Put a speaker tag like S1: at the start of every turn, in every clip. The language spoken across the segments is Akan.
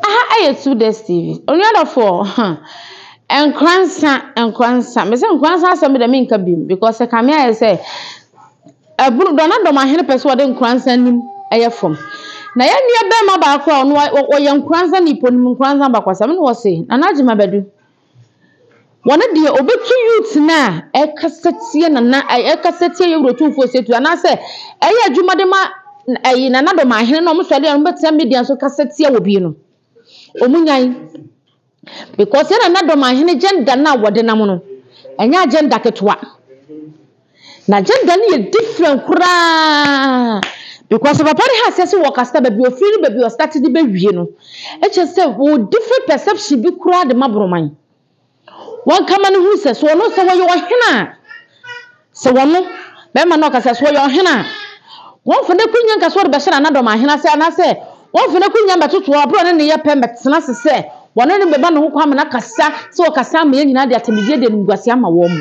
S1: Aha ɛyɛ Sudes TV. Onua dɔfoɔ huh Nkoransa Nkoransa mese Nkoransa asɛm deɛ menka biom because ɛkame ayɛ sɛ ɛboro dɔ na dɔmahene pɛ sɛ ɔde Nkoransa nim ɛyɛ fam na yɛn nua barima baako a ɔno ɔyɛ Nkoransa ni ponim Nkoransa abakɔsɛm na ɔse Nana Agyeman Badu Wɔn deɛ ɔbɛtu youth no a ɛkasa tia nana ɛkasa tia yɛwura otumfoɔ Osetu anaasɛ ɛyɛ adwuma de ma ɛyi nana dɔm ahene na wɔn sɔ adeɛ wɔn bɛtena media so kasa tia wɔ bi no wɔn nyan because yɛ nana dɔm ahene gender no a wɔde nam no ɛnyɛ agenda ketewa. N'agenda no yɛ different koraa because papa no has sɛ wɔkasa baabi a ɔfiri ne baabi a ɔstarte de bɛwie no kyerɛ sɛ wɔwɔ different perception bi koraa de ma Boroman. Wɔn kama no hunu sɛ sɛ ɔno sɛ wɔyɛ ɔhene a sɛ wɔno bɛrima no ɔkasa sɛ ɔyɛ ɔhene a wɔmfa no akonnwa nka sɛ ɔde bɛhyɛ n'anadɔm ahene ase anaasɛ wɔmfa no akonnwa mbɛtoto abere ɔne ne yɛ pɛ mbɛtena ase sɛ wɔne no bɛma ne ho kwan ama no akasa sɛ ɔkasa ama yɛn nyinaa de atamidie de animguaseɛ ama wɔn.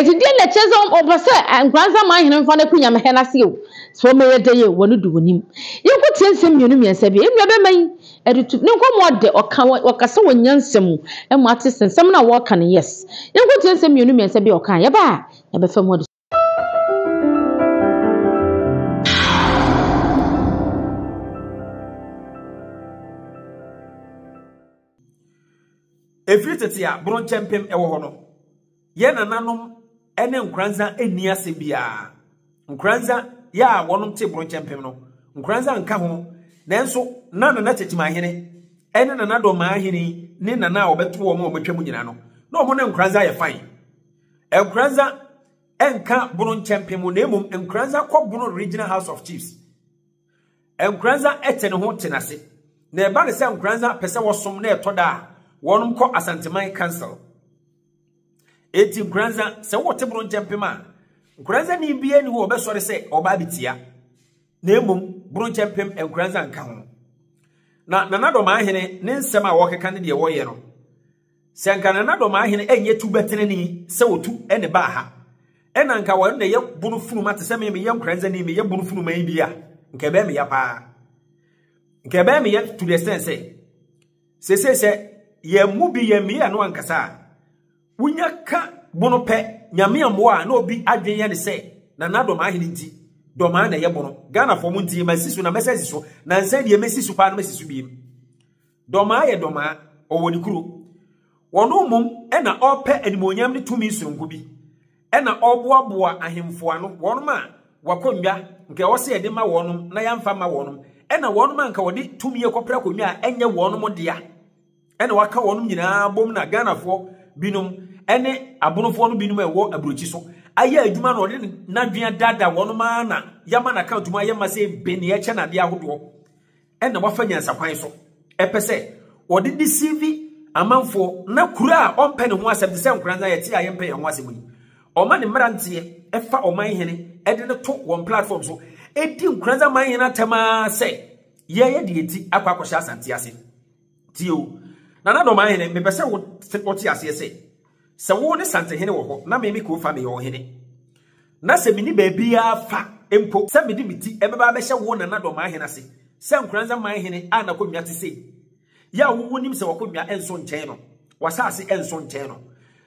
S1: Ntsi deɛ na ɛkyerɛ sɛ wɔpɛ sɛ Nkoranza man hene mfa no ko Nyame hɛn ase o, sɛ wɔmɛyɛ dɛ yie, wɔn do wɔnim. Yɛnkɔtie nsɛm mmienu mmiɛnsa bi a enua bɛma yi de to, ne nkɔmmɔ a ɔdɛ, ɔka, ɔkasa wɔ nyansa mu ma ate sɛ nsɛm no a wɔreka no, yes. Yɛnkɔtie nsɛm mmienu mmiɛnsa bi a ɔka a, yɛba a, yɛbɛfa mu adesua.
S2: Ɛfiri tete a boro nkyɛmpem wɔ hɔ no, yɛn nananom ne nkoranza nni asɛm biara. Nkoranza yɛ a wɔnom te boro nkyɛmpem no, nkoranza nka ho, nanso na nana kyekyemahene ne nana dɔmahene ne nana a wɔbɛto wɔn a wɔatwa mu nyinaa no, na wɔn ne nkoranza yɛ fan. Nkoranza nka boro nkyɛmpem na mmom nkoranza kɔ boro regional house of chiefs. Nkoranza tse no ho tse no ase, na ɛba no sɛ Nkoranza pɛ sɛ wɔsom na ɛtɔ da a, wɔnom kɔ Asanteman Council. Enti Nkoranza, sɛ wɔte boro nkyɛmpem a, Nkoranza ni biara ni hɔ ɔbɛsɔre sɛ ɔba abetia, na mmom boro nkyɛmpem Nkoranza nka ho. Na Nanadɔm ahene ne nsɛm a wɔkeka ne deɛ wɔyɛ no, Sɛ anka nananom hene ɛnyɛ tu bɛtenene sɛ ɔtu ne baa ha, ɛna anka ɔno na ɛyɛ bono funuma te sɛ me meyɛ nkoranza ni meyɛ bono funuma yi bi a, nka ɛbɛyɛ meya paa. Nka ɛbɛyɛ meya to the extent sɛ, sese sɛ yɛn mu bi yɛn meyɛ no ankasa a, wonya ka bono pɛ nyame mmoa a na obi adwene yɛ ne sɛ na na dɔmaa hene nti dɔmaa na ɛyɛ bono. Ghana fɔ mo nti masi so na mɛsɛ si so na nsɛn deɛ mɛsi so paa na mɛsi so biem. Dɔmaa yɛ dɔmaa, ɔwɔ ne kuro. Ɔno mmom na ɔrepɛ animuonyam ne tumi soronko bi, na ɔreboaboa ahemfo ano, wɔnom a w'akonnwa nka ɛwɔ sɛ yɛde ma wɔnom na yɛamfa mma wɔnom, na wɔnom a nka wɔde tumi rekɔpere akonnwa a ɛnyɛ wɔnom dea, na waka wɔnom nyinaa abom na Ghanafoɔ binom ne abonofoɔ no binom a ɛwɔ aburokyi so ayɛ adwuma na ɔde n'adwene adaadaa wɔnom ara na yɛama no account mu ayɛ ma sɛ bene ɛkyɛ n'adeɛ ahodoɔ. ɛna wafa nyansakwan so ɛpɛ sɛ ɔde deceive amanfoɔ na kura a ɔmpɛ ne ho asɛm te sɛ nkora nsa yɛte a yɛmpɛ yɛn ho asɛm yi ɔma ne mmeranteɛ ɛfa ɔman hene ɛde no to wɔn platform so ɛdi nkora nsa man hene atɛm ara sɛ yɛyɛ deɛ ɛti akɔ akɔhyɛ asante ase Tie o, Nana Dɔmahene, mepɛ sɛ wote aseɛ sɛ, sɛ wo ne Santehene wɔ hɔ na me me Kofa meyɛ ɔhene, na sɛ menni baabiara fa mpo sɛ mede me ti bɛba abɛhyɛ wo Nana Dɔmahene ase sɛ Nkoranza man hene a n'akonnwa te sei, yɛ a wonim sɛ w'akonnwa nso nkyɛn no, w'asase nso nkyɛn no.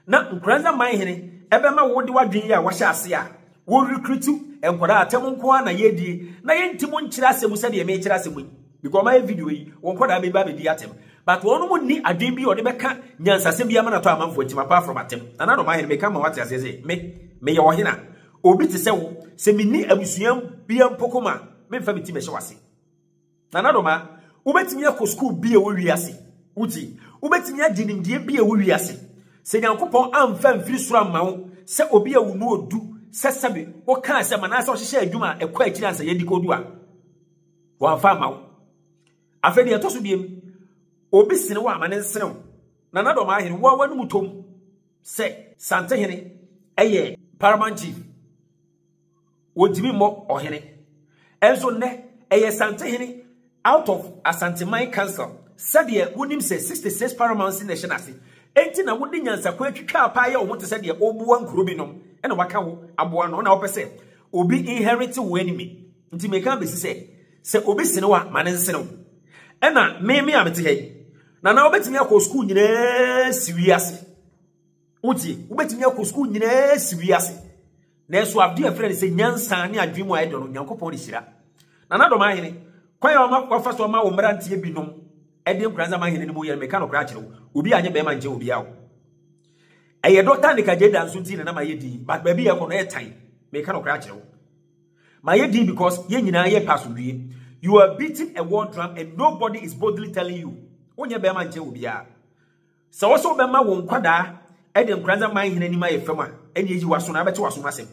S2: Na Nkurantza Manhene bɛma wo de w'adwen yi a wɔahyɛ ase a wo recruit nkwadaa a tɛm nko ara na yɛredie na yɛnti mo nkyerɛ asɛm mu sɛdeɛ mekyerɛ asɛm mu yi because ɔmayɛ video yi wo nkwadaa bɛba abɛdi atɛm but wɔn mo nni adwen bi a ɔde bɛka nyansasɛm bi ama natɔ amanfoɔ atim apart from atɛm na nano Manhene meka ma wate aseɛ sɛ me meyɛ ɔhena obi te sɛ wo sɛ menni abusua bia mpo koma memfa me ti mɛhyɛ wase Nana Doma, Wobɛtumi akɔ sukuu bi a ɛwɔ wiase. Wogye? Wobɛtumi agye nimdeɛ bi a ɛwɔ wiase. Sɛ Nyankopɔn amfa amfiri soro amma wo sɛ obi a wo mu ɔdu sɛ sɛbe woka asɛm anaasɛ wohyehyɛ adwuma a ɛkɔ akyiri ansa yɛadi kɔdu a, wɔamfa amma wo. Afei deɛ ɛtɔ so biem, obi sene wo a ma ne nsene wo. Nana Doma Ahene, wo a w'anom tɔm sɛ Santehene yɛ Paramount TV. wɔntumi mmɔ ɔhene. Ɛnso nnɛ, ɛyɛ Santehene out of Asanteman Council. Sɛdeɛ wonim sɛ 66 paramountcy na ɛhyɛ no ase, enti na wode nyansakwan atwitwa apaa yɛ wo ho te sɛ deɛ woboa nkuro binom na waka wo aboa ano. Na wopɛ sɛ obi inherit wo anime. Nti meka bɛsi sɛ, sɛ obi sene wo a, ma no nsene wo. Ɛna meme a mete ha yi, na na wobɛtumi akɔ sukuu nyinaa si wiase. Wotie? Wobɛtumi akɔ sukuu nyinaa asi wiase. Nanso adeɛ a ɛfrɛ no sɛ nyansa ne adwene mu a ɛdɔ no, Nyankopɔn de hyira. Na n'adɔm ahene, kwan a ɔma wɔfa so ma wo mmeranteɛ binom ɛde nkura nsa ma ahene no mu yɛ no, meka nokorɛ akyerɛ wo, obi anyɛ bɛrima nkyɛ obi awo. Ɛyɛ dɔta ne kagyeeda nso nti na na mayɛ din, but baabi yɛ kɔ no ɛyɛ tan, meka nokorɛ akyerɛ wo. Mayɛ din because yɛn nyinaa yɛ pɛ asomdwie. You are beating a war drum and nobody is boldly telling you. Wonyɛ bɛrima nkyɛ obiara. Sɛ wo nso wobɛma wo nkwadaa de Nkoranza man hene anim ayɛ fam a, ɛnneɛ yi w'aso na abɛte w'asom asɛm.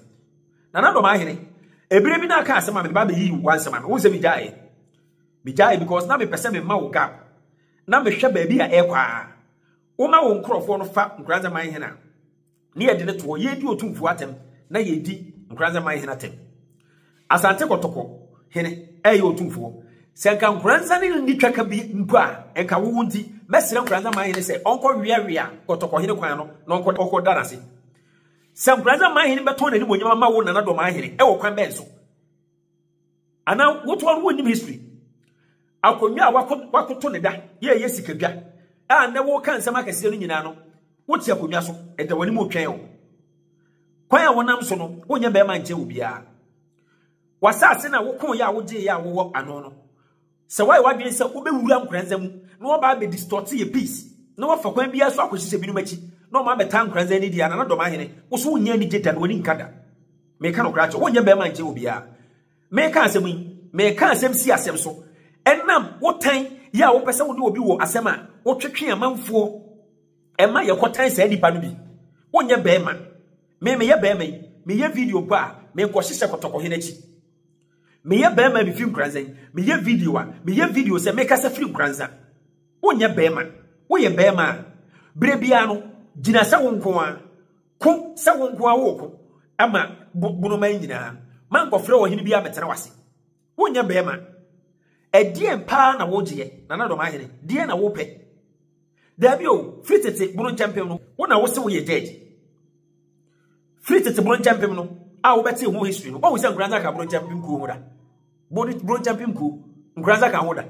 S2: Nana Dɔmaa hene, ebire bi na aka asɛm a mede ba abɛyi wo asɛm ano. Wohu sɛ megyaeɛ? Megyaeɛ because na mepɛ sɛ mema wo gap na mehwɛ baabi a ɛrekɔ a. Woma wo nkurɔfoɔ no fa Nkoranza man hene a, ne yɛde no to hɔ yɛredi otumfoɔ atɛm na yɛredi nkoranzɛn man hene atɛm asante kɔtɔkɔ hene ɛyɛ otumfoɔ sɛ nka nkoranzɛn ne nni twaka bi mpo a nka wowo nti mɛsrɛ nkoranzɛn man hene sɛ ɔnkɔ weawea kɔtɔkɔ hene kwan no na ɔnkɔ ɔkɔ da n'ase sɛ nkoranzɛn man hene bɛtɔn n'anim onyama ma wo nana dɔm ahene ɛwɔ kwan bɛn so anaa wotoɔ no wonnim history akonnwa a wakoto ne da yɛɛyɛ sikadwa a nnɛ woka nsɛm akɛseɛ no nyinaa no wote akonnwa so ɛda w'anim otwɛn o kwan a wonam so no wonyɛ bɛrima nkyɛ obiara wasase na wokoyɛ a wogyeeɛ a wowɔ ano no Sɛ woayɛ w'adwene sɛ wobɛwura nkoranza mu na woaba abɛ distort yɛ peace, na woafa kwan biara so akɔhyehyɛ binom akyi na wɔn abɛtaa nkoranza ani deɛ a Nana Dɔm Ahene, wo so wonyɛ anigye da na w'ani nka da. Meka nokorɛ akyerɛ wo, wonyɛ barima nkyɛn obiara. Meka asɛm yi, meka asɛm si asɛm so, ɛnam wo tan yɛ a wopɛ sɛ wode obi wɔ asɛm a wotwetwe amanfoɔ ɛma yɛkɔtan saa nipa no bi. Wonyɛ barima. Me meyɛ barima yi, meyɛ video mpo a, menkɔhyehyɛ kɔtɔkɔhene akyi. Meyɛ bɛrima a mefi Nkoranza yi, meyɛ video a, meyɛ video sɛ mekasa firi Nkoranza. Wonyɛ bɛrima. Woyɛ bɛrima a, berɛ biara no, gyina sɛ wo nko ara. Ko sɛ wo nko ara woko ama bonoman nyinaa. Mankɔfrɛ ɔhene biara mmɛtena w'ase. Wonyɛ bɛrima. Ɛdeɛn paa na wogyeɛ, Nana Dɔm Ahene? Deɛn na wopɛ? Daabi o, firi tete bono nkyɛmpem no, wo na wose woyɛ judge. Firi tete Bronkyɛmpem no a wobɛtee ho history no, woahu sɛ Nkoranza ka Bronkyɛmpem kuo ho da. Bronkyɛmpem kuo, Nkoranza ka ho da.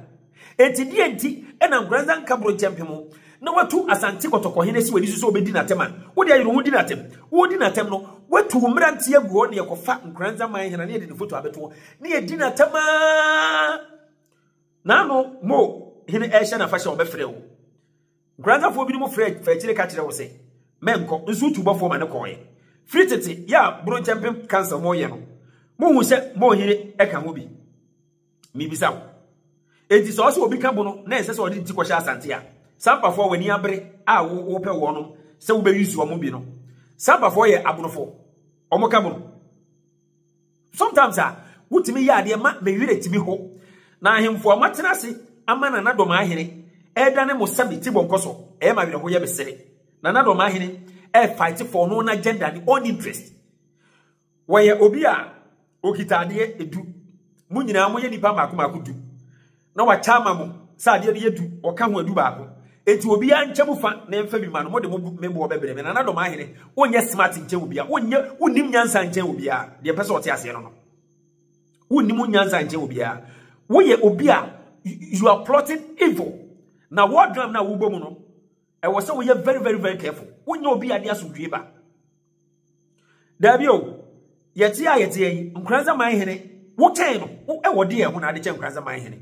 S2: Enti deɛ nti na Nkoranza nka Bronkyɛmpem ho na watu Asante Kɔtɔkɔhene si w'ani so sɛ wobɛdi n'atɛm a, wode ayere ho di n'atɛm. Wodi n'atɛm no, watu wo mmerante agu hɔ na yɛkɔfa Nkoranza man hena na yɛde ne foto abɛto hɔ na yɛdi n'atɛm a n'ano mo hene ɛrehyɛ n'afahyɛ a wɔbɛfrɛ wo. Nkoranzafoɔ binom frɛ fa akyire ka kyerɛ wo sɛ mɛnkɔ nso tu bɔfoɔ ma no kɔɔɛ. Firi tete yɛ a bronkyɛmpem cancer mo yɛ no mo hu sɛ mo yere ɛka ho bi? Me bisa wo. Enti sɛ ɔsɛ obi ka bo no na ɛnsɛ sɛ ɔde ne ti kɔhyɛ asante a sampafoɔ w'ani abere a wo wo pɛ wɔnom sɛ wo bɛ use wɔn bi no sampafoɔ yɛ abrofoɔ wɔn ka bo no. Sometimes a, wotumi yɛ adeɛ ma me werɛ tumi ho. Na ahemfo a moatena ase ama Nana Domaahene ɛredane mo sɛ me tibɔnkɔ so, ɛyɛ me awerɛhoyɛ, mesere. Nana Domaahene ɛrefight for ɔno n'agenda, ne own interest. Wɔyɛ obi a okita adeɛ du. Mo nyinaa moyɛ nnipa mmaako mmaako du. na wakyɛ ama mo sɛ adeɛ no yɛ du, ɔka ho adu baako. Enti obiara nkyɛ mu fa na ɛmfa bi ma no, mode mo bo me boɔ bɛbrɛ me. Nanadɔm ahene, wonyɛ smart nkyɛn obiara, wonyɛ, wonnim nyansa nkyɛn obiara, deɛ mpɛ sɛ ɔte aseɛ no no. Wonnim wo nyansa nkyɛn obiara. Woyɛ obi a you are plotting evil. Na wɔdram no a wobɔ mu no, ɛwɔ sɛ woyɛ very very very careful. Wonyɛ obi a de asomdwoe ba. Dabi o, yɛte a yɛte yi, Nkoranza man hene, wotɛn no, ɛwɔ deɛ ɛho na ade kyɛ Nkoranza man hene.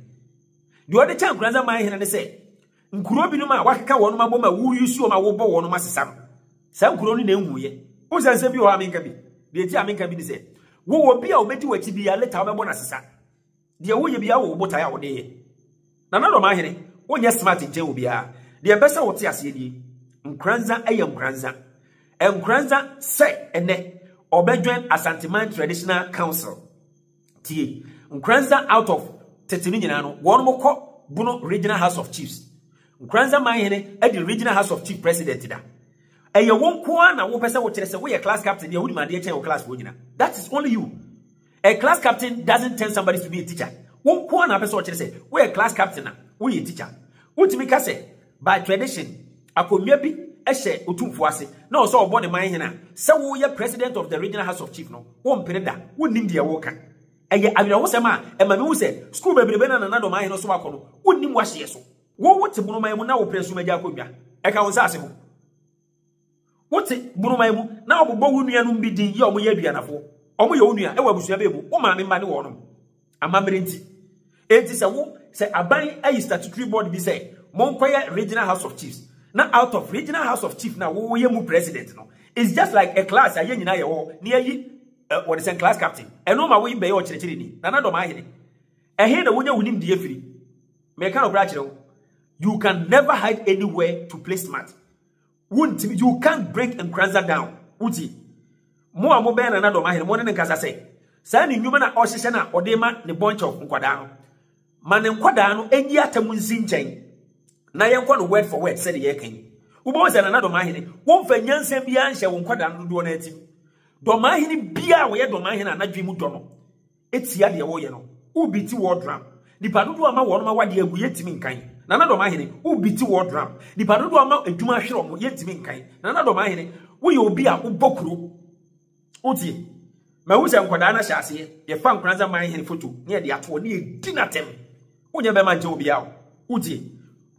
S2: Deɛ ɔde kyɛ Nkoranza man hene ne sɛ, nkuro binom a wakeka wɔn abɔ ma woyi suo ma wobɔ wɔn asesa no, saa nkuro no na ɛnwuiɛ. Wosɛ nsɛm bi wɔ hɔ a menka bi, deɛ ɛti a menka bi ne sɛ, wowɔ bi a wobɛdi w'akyi bi a leta wobɛbɔ no asesa. Deɛ woyɛ biara wɔ wo botae a wode yɛ. Nana Dɔmahene, wonyɛ smart nkyɛn wɔ biara. Deɛ mpɛ sɛ wote aseɛ nie, Nkoranza yɛ Nkoranza. Nkoranza sɛ ɛnɛ ɔbɛjoin Asanteman Traditional Council. Tie, Nkoranza out of tete no nyinaa no, wɔnom kɔ Bono Regional House of Chiefs. Nkoranza Manhene adi Regional House of Chief President da. Ɛyɛ wo nko ara na wopɛ sɛ wokyerɛ sɛ woyɛ class captain deɛ wonim adeɛ kyɛn wo class foɔ nyina. That is only you. A class captain doesn't turn somebody to be a teacher. Wo nko ara na apɛ sɛ ɔkyerɛ sɛ woyɛ class captain a woyɛ teacher. Wotumi ka sɛ by tradition akonnwa bi hyɛ otumfoɔ ase na ɔwɔ sɛ ɔbɔ ne man hene a, sɛ woyɛ president of the regional house of chief no, wompere da, wonnim deɛ woreka. Ɛyɛ awerɛhosɛm a ɛma mehu sɛ sukuu bebrebe no a Nana Addo man hene so akɔ no, wonnim w'ahyeɛ so. Wo wote monoman mu na wopere nsoromma agya akonnwa ka wo nsase ho. Wote buruman mu na wɔbobɔ wo nuanom bi din yɛ wɔn yɛ aduanafoɔ. Wɔyɛ wo nua wɔ abusua bɛn mu? Wo maame mma ne wɔnom. Amammerɛ nti. Enti sɛ wo sɛ aban ayi statutory board bi sɛ monkɔyɛ regional house of chiefs na out of regional house of chief na woyɛ mu president no it's just like a class a yɛn nyinaa yɛ hɔ na yɛyi eh, wɔde sɛn class captain ɛno ma woyi bɛyɛ ɔkyerɛkyerɛni nana dɔm ahene ɛhe na wonya wo nimdeɛ firi Meka no kora kyerɛ wo. You can never hide anywhere to play smart. Wontim, you can't break Nkranza down. Wuti. Mo a mo bɛn na nadɔ mahene, mo ne ne nkasa sɛ. Saa ne nnwuma na ɔhyehyɛ na ɔde ma ne bunch of nkwadaa no. Ma ne nkwadaa no enyi atam nsi nkyɛn. Na yɛnkɔ no word for word sɛ de yɛka yi. Wobɛhu sɛ na nadɔ mahene, womfa nyansa biara nhyɛ wo nkwadaa no dodoɔ no atim. Dɔ mahene biara a wɔyɛ dɔ mahene a nadwe mu dɔ no. tia deɛ wɔyɛ no wo biti wall drum nipa dodoɔ ama wɔn awadeɛ agu yɛntumi nkan nana dɔm ahene wo biti wall drum nipa dodoɔ ama adwuma ahwere wɔn yɛntumi nkan nana dɔm ahene woyɛ obi a wobɔ kuro wotie mahu sɛ nkwadaa no ahyɛ aseɛ yɛfa nkoranza man hene foto ne yɛde atoɔ ne yɛdi no atɛm wonyɛ bɛma nkyɛ obiaa wo wotie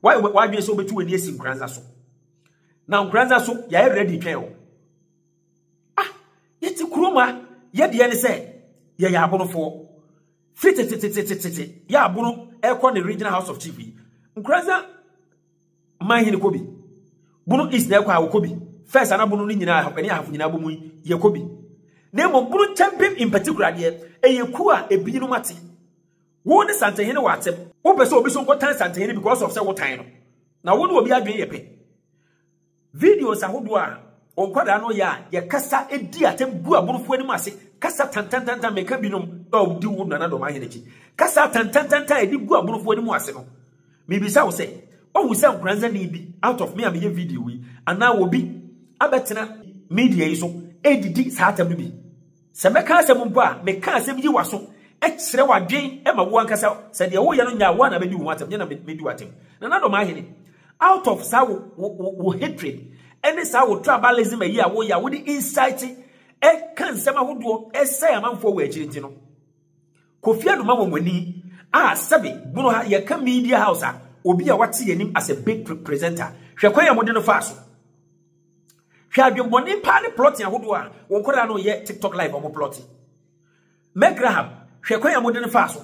S2: wadwene sɛ wobɛtu w'ani asi nkoranza so na nkoranza so yɛayɛ ready twɛn wo Ah, yɛte kurom a yɛdeɛ ne sɛ yɛyɛ abonofoɔ. Firi tetetetetete yɛ abono ɛkɔ ne regional house of chief yi. Nkuransa man hene kɔ bi. Bono east na ɛkɔ a wɔkɔ bi. First ana bono no nyinaa ɛne ahafo nyinaa bɔ mu yi yɛkɔ bi. Na mmom bono nkyɛmpem in particular deɛ ɛyɛ kuo a ebinom ate. Wo ne santehene wɔ atɛm. Wopɛ sɛ obi so nkɔtan santehene because of sɛ wotan no. Na wo ne obi adwene yɛ pɛ. Videos ahodoɔ a wɔn nkwadaa no yɛ a yɛkasa di atɛm gu aborɔfo anim ase kasa tantantantan meka binom a wodi wo nana dɔm ahene akyi kasa tantantantan a ɛde gu aborɔfo anim ase no mebisa wo sɛ wahu sɛ nkoransani bi out of me a meyɛ video yi anaa obi abɛtena media yi so ɛdidi saa atɛm no bi Sɛ mɛka asɛm mpo a, meka asɛm yi w'aso, kyerɛ w'adwen ma wo ankasa, sɛ deɛ woyɛ no nyaa wo a na mɛdi wo ho atɛm, nyɛ na mɛdi w'atɛm. Nanadɔm ahene, out of saa wo, wo, wo, wo hatred, ɛne saa wo tribalism ayi a woyɛ a wode insight ɛka nsɛm ahodoɔ ɛsɛe amanfoɔ wɔ akyiri nti no, Kofi Anoma wɔ mo ani a sɛbe bono ha yɛka media house a, obi a wate yɛn anim as a big presenter, hwɛ kwan a mode no faa so. Hwɛ adwemmɔne paa ne plɔte ahodoɔ a wɔn nkwadaa no yɛ TikTok live wɔn plɔte. Meg Graham, hwɛ kwan a mode no faa so.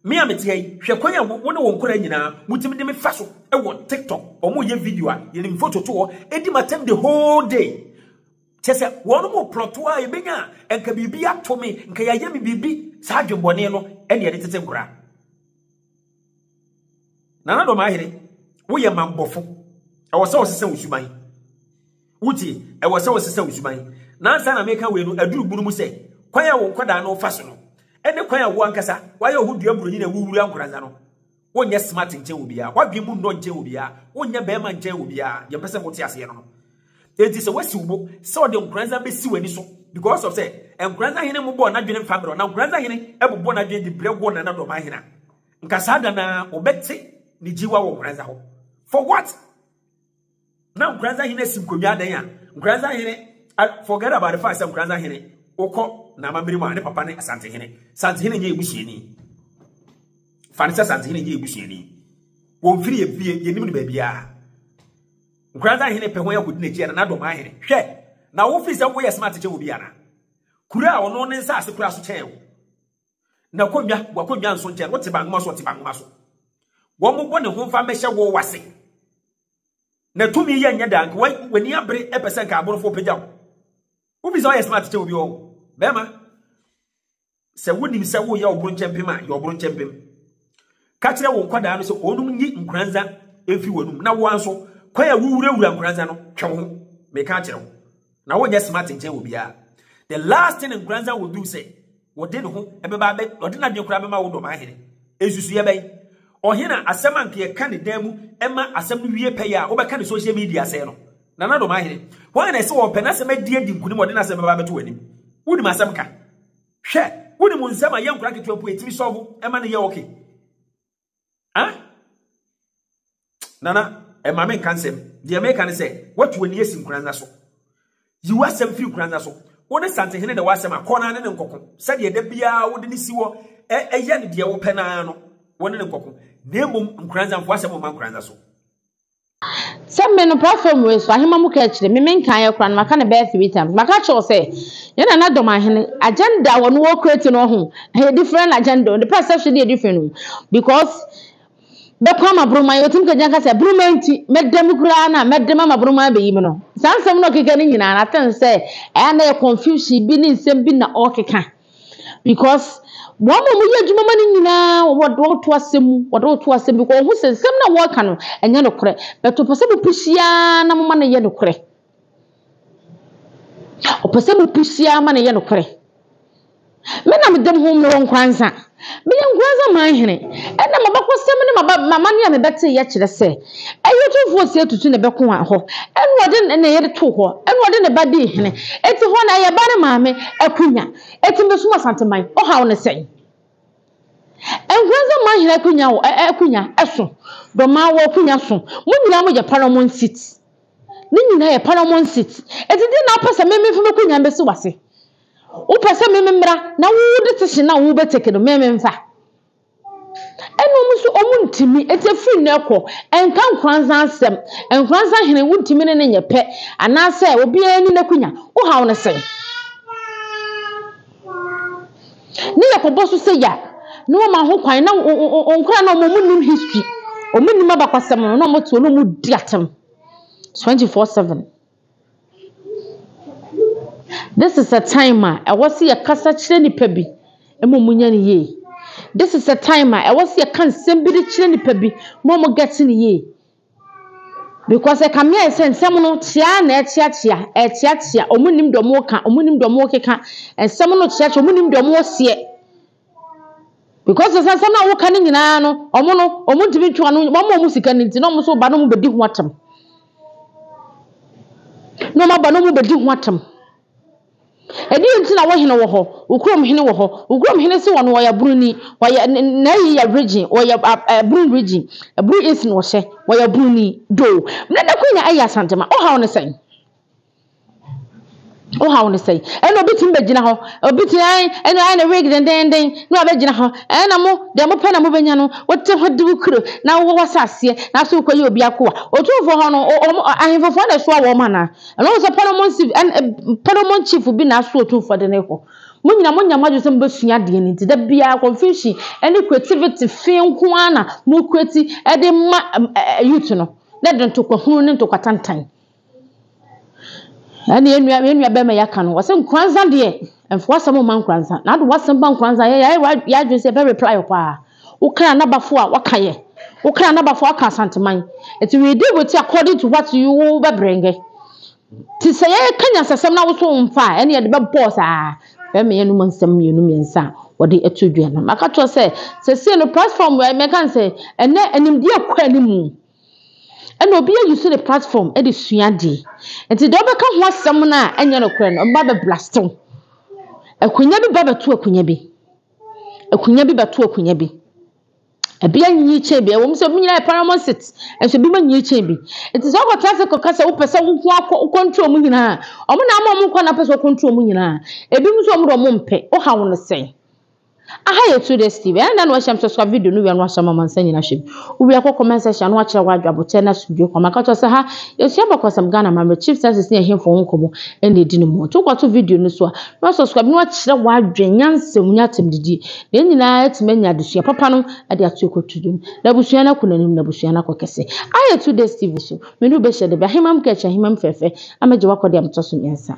S2: Me a meteɛ yi, hwɛ kwan a wo ne wɔn nkwadaa nyinaa motumi de me fa so wɔ TikTok. Wɔn yɛ video a yɛnim foto to hɔ, ɛdi ma tɛm the whole day. Kyɛ sɛ wɔn mo plɔto a yɛbɛnya a nka biribi ato me, nka yɛayɛ me biribi saa adwemmɔne no ɛne ɛde tete nkwadaa. Nana Dɔm Ahene, woyɛ mammɔfo. Ɛwɔ sɛ wɔsesa wo suban. Wotie, ɛwɔ sɛ wɔsesa wo suban. Nansa na meka wei no, aduru bunu mu sɛ, kwan a wo nkwadaa no fa so no, ɛne kwan a wo ankasa wayɛ wo ho dua buroni na wowura nkoransa no, wonyɛ smart nkyɛn wɔ biara, wadwen mu nnɔ nkyɛn wɔ biara, wonyɛ bɛrima nkyɛn wɔ biara, deɛ mpɛ sɛ mote aseɛ no no. Enti sɛ wasi wo bo sɛ ɔde nkoranza besi w'ani so because of sɛ nkoranza hene mo bɔɔ n'adwene mfa mmerɛ na nkoranza hene bobɔ n'adwene de brɛ wɔ nana dɔmaa hene a, nka saa da naa wobɛte ne gyiwa wɔ nkoranza hɔ. For what? Na nkoranza hene asi nkonnwa adɛn a nkoranza hene forget about the fact sɛ nkoranza hene wokɔ na amammerɛ mu a ne papa ne asante hene sante hene nyɛ ebusuani fa ne sɛ sante hene nyɛ ebusuani wɔmfiri yɛ fie yɛnim no baabiara Nkoranza hene pɛ hɔn akodi n'ekyi ana Dɔmaa hene? Hwɛ, na wo firi sɛ wo yɛ smart kyɛn obi ana? Kuro a ɔno ne nsaase koraa so kyɛn wo. Na konnwa, w'akonnwa nso nkyɛn, wote bangoma so ɔte bangoma so. Wɔmmobɔ ne ho mfa mmɛhyɛ wo wase. Na tumi yɛ nyɛ daa nka w'ani abere pɛ sɛ nka aborɔfo pagya wo. Wo firi sɛ ɔyɛ smart kyɛn obi ɔho. Bɛrima. Sɛ wonim sɛ woyɛ ɔbronkyɛmpem a, yɛ ɔbronkyɛmpem. Ka kyerɛ wo nkwadaa no sɛ wɔnom nyi nkoranza mfi wɔnom na woa nso kwan a wowurawura nkoranza no twe ho. Meka akyerɛ wo. Na wonyɛ smart nkyɛn wɔ biara. The last thing nkoranza will do sɛ wɔde ne ho ɛbɛba abɛ wɔde n'adwene koraa bɛma wo dɔmaa hene. Nsusuiɛ bɛn? Ɔhene a asɛm a nka yɛka ne dan mu ɛma asɛm no wie pɛyɛ a wobɛka ne social media sɛe no. Nana Domaahene, hwan na ɛse ɔpɛ n'asɛm adi adi nkunim ɔde n'asɛm bɛba abɛto w'anim? Wonim asɛm ka? Hwɛ, wonim nsɛm a yɛ nkora ketewa mpo yɛtumi sɔvo ɛma no yɛ ɔke? Ah? Nana, ɛma me nka nsɛm. Deɛ meka ne sɛ, watu w'ani asi nkora nna so. Yi w'asɛm firi nkora nna so. Wo ne Santehene na ɛwɔ asɛm a, kɔ na ne ne nkɔko. Sɛdeɛ da biara wode ne si hɔ ɛyɛ no deɛ wopɛ no ara no, wo ne ne nkɔko. Na mmom nkora nna, mfa w'asɛm mma nkora nna so.
S1: Sɛ me no pra fam wei so ahema mu kɛkyerɛ me menkaeɛ koraa no maka no bɛyɛ three times maka kyerɛ wo sɛ yɛn nana dɔm ahene agenda wɔ no wɔ create no ho ɛyɛ different agenda wɔn de pɛ sɛ hwede yɛ different no because bɛkɔ ama boroma yɛ wɔtumi kagya nka sɛ boroma nti mɛda mu koraa no a mɛde ma ma boroma abɛyi mu no saa nsɛm no ɔkeka no nyinaa no aten sɛ ɛyɛ na yɛ confusion bi ne nsɛm bi na ɔkeka Because wɔn a wɔyɛ adwuma ma no nyinaa wɔde wɔn to asɛm mu wɔde wɔn to asɛm because wɔn ho sɛ nsɛm na wɔreka no ɛnyɛ no korɛ but wɔpɛ sɛ wɔpɛ siaa na wɔma no yɛ no korɛ wɔpɛ sɛ wɔpɛ siaa ma no yɛ no korɛ me na me dɛm ho mewɔ nkransa. Meyɛ Nkoranza man hene, ɛnna m'abakɔsɛm ne m'amanneɛ a mebɛteeɛ kyerɛ sɛ, ɛyɛ otumfoɔ Ɔsɛe Tutu na ɛbɛko wɔn hɔ, ɛnna ɔde ne yere too hɔ, ɛnna ɔde ne ba dii hene. Enti hɔ no, ɛyɛ ba ne maame akonnwa. Enti mesom Asanteman. Ɔhaw ne sɛn? Nkoranza man hene akonnwa wɔ ɛ ɛ akonnwa so, Dɔmaa wɔ akonnwa so, mo nyinaa moyɛ Paramount seat. Ne nyinaa yɛ Paramount seat. Enti deɛn na wopɛ sɛ me memfa m'akonnwa mbɛsi w'ase? Wopɛ sɛ meme mmra na wo decision a wobɛ take no meme mfa? Ɛna ɔmo so ɔmo ntumi, eti efiri nnɛ kɔ, ɛnka Nkoranza asɛm, Nkoranza hene wontumi ne no nyɛ pɛ, anaasɛ obiara ni n'akunya, wohaw no sɛn? Ne yɛ kɔbɔ so sɛ ya, na wama ho kwan, na nkoraa na ɔmo ɔmo nim history, ɔmo nim abakwasɛm no, na ɔmo te hɔ na ɔmo di atɛm 24 seven. This is a time a ɛwɔ sɛ yɛkasa kyerɛ nnipa bi ma wɔnya no yie. This is a time a ɛwɔ sɛ yɛka nsɛm bi de kyerɛ nnipa bi ma wɔgɛte no yie. Because ɛkame ayɛ sɛ nsɛm no kyea na ɛkyeakyea, ɛkyeakyea. Wɔnnim deɛ wɔreka, wɔnnim deɛ wɔrekeka. Nsɛm no kyeakyea, wɔnnim deɛ wɔreseɛ. Because sɛ asɛm no a woka no nyinaa no, wɔn no, wɔn ntumi ntwe ano, wɔn a wɔn sika no nti na wɔn so ba no mu bɛdi ho atam. Na wɔn aba no mu bɛdi ho atam. Ɛdeɛ nti na wɔhene wɔ hɔ, okurom hene wɔ hɔ, okurom hene si wɔ no wɔyɛ bruni, wɔyɛ n'ayi yɛ virgin, wɔyɛ brun virgin, brun esin wɔhyɛ, wɔyɛ bruni, do. Mene ne konya ɛyɛ asantema, ɔhaw ne sɛn? Wo haw no sɛn? Ɛna obi tumi bɛgyina hɔ, obi tumi ayɛ ɛna ayɛ ne wig dendenden na wabɛgyina hɔ. Ɛna mo deɛ mopɛ na mobɛnya no, wote ho de wo kuro na wowɔ w'asaaseɛ na afei wokɔyɛ obi akoa. Otumfoɔ hɔ no, wɔn ahemfo foɔ na ɛsoa wɔn anaa? Ɛno sɛ Parliament chief ɛna Parliament chief bi na aso otumfoɔ de no kɔ. Mo nyinaa monya mo adwene sɛ mobɛsua adeɛ no nti da biara confusion ɛne creativity fi nko ara na mo create ɛde ma youth no na ɛde ntɔkwahunu ne ntɔkwatantan. Ɛne yɛn nua yɛn nua bɛrima yi aka no wɔsɛ nkoranza deɛ ɛnfo asɛm mma nkoranza na ade wasɛm ba nkoranza yɛ yɛ yɛ adwene sɛ ɛbɛ reply wɔ paa wokra n'abafo a waka yɛ wokra n'abafo aka asanteman ɛti we deal with according to what you bɛ brɛngɛ ti sɛ yɛ ka nyansasɛm na woso nfa a ɛne yɛde bɛ bɔɔ saa bɛrima yɛ numa nsɛm mmienu mmiɛnsa a wɔde ɛto dua no maka kyerɛ sɛ sɛ sɛ no platform wɛ mɛka sɛ ɛnɛ animdeɛ kɔ animu. Ɛna obi ayusu ne platform de sua adeɛ. Nti deɛ ɔbɛka ho asɛm no a ɛnyɛ nokorɛ no, ɔbɛba bɛ blast wo. Akonnwa bi ba bɛto akonnwa bi. Akonnwa bi bɛto akonnwa bi. Ebi anyi kyɛn bi. Ɛwom sɛ ebi nyinaa yɛ paramount seat, nso ebi anyi kyɛn bi. Nti sɛ wokɔtena ase kɔka sɛ wopɛ sɛ wo nko ara kɔ control wɔn nyinaa a, wɔn na ama wɔn kwan na wopɛ sɛ wo control wɔn nyinaa. Ebinom nso wɔn de wɔn mpɛ. Wohaw no sɛn? Aha yɛ two days TV a ɛnda na wahyia me sɛ soa video no wie a na wasua me amansa nyina hwɛ bi. Wo wie a kɔ comment section a na wakyerɛ wo adwo aboterɛ ne asomdwoe kɔma. Ka kyerɛ wo sɛ ha yɛsua abakɔsɛm, Ghana amammerɛ, chief census ne ɛhemfo ho nkɔmmɔ ɛna ɛdi no mu. Nti wokɔ to video no so a na wasɔscribe na wakyerɛ wo adwen, nyansa mu ne atɛmdidie. Na yɛn nyinaa atumi anya adesua papa no de ato ɛkɔto dwom. Na abusua no akɔ n'anim na abusua no akɔ kɛse. Aha yɛ two days TV so. Me ne wo bɛhyia da bi. Ahemam Catch, Ahemam fɛɛfɛ, amɛgye wo akɔdeɛ a metɔ so mmiɛnsa.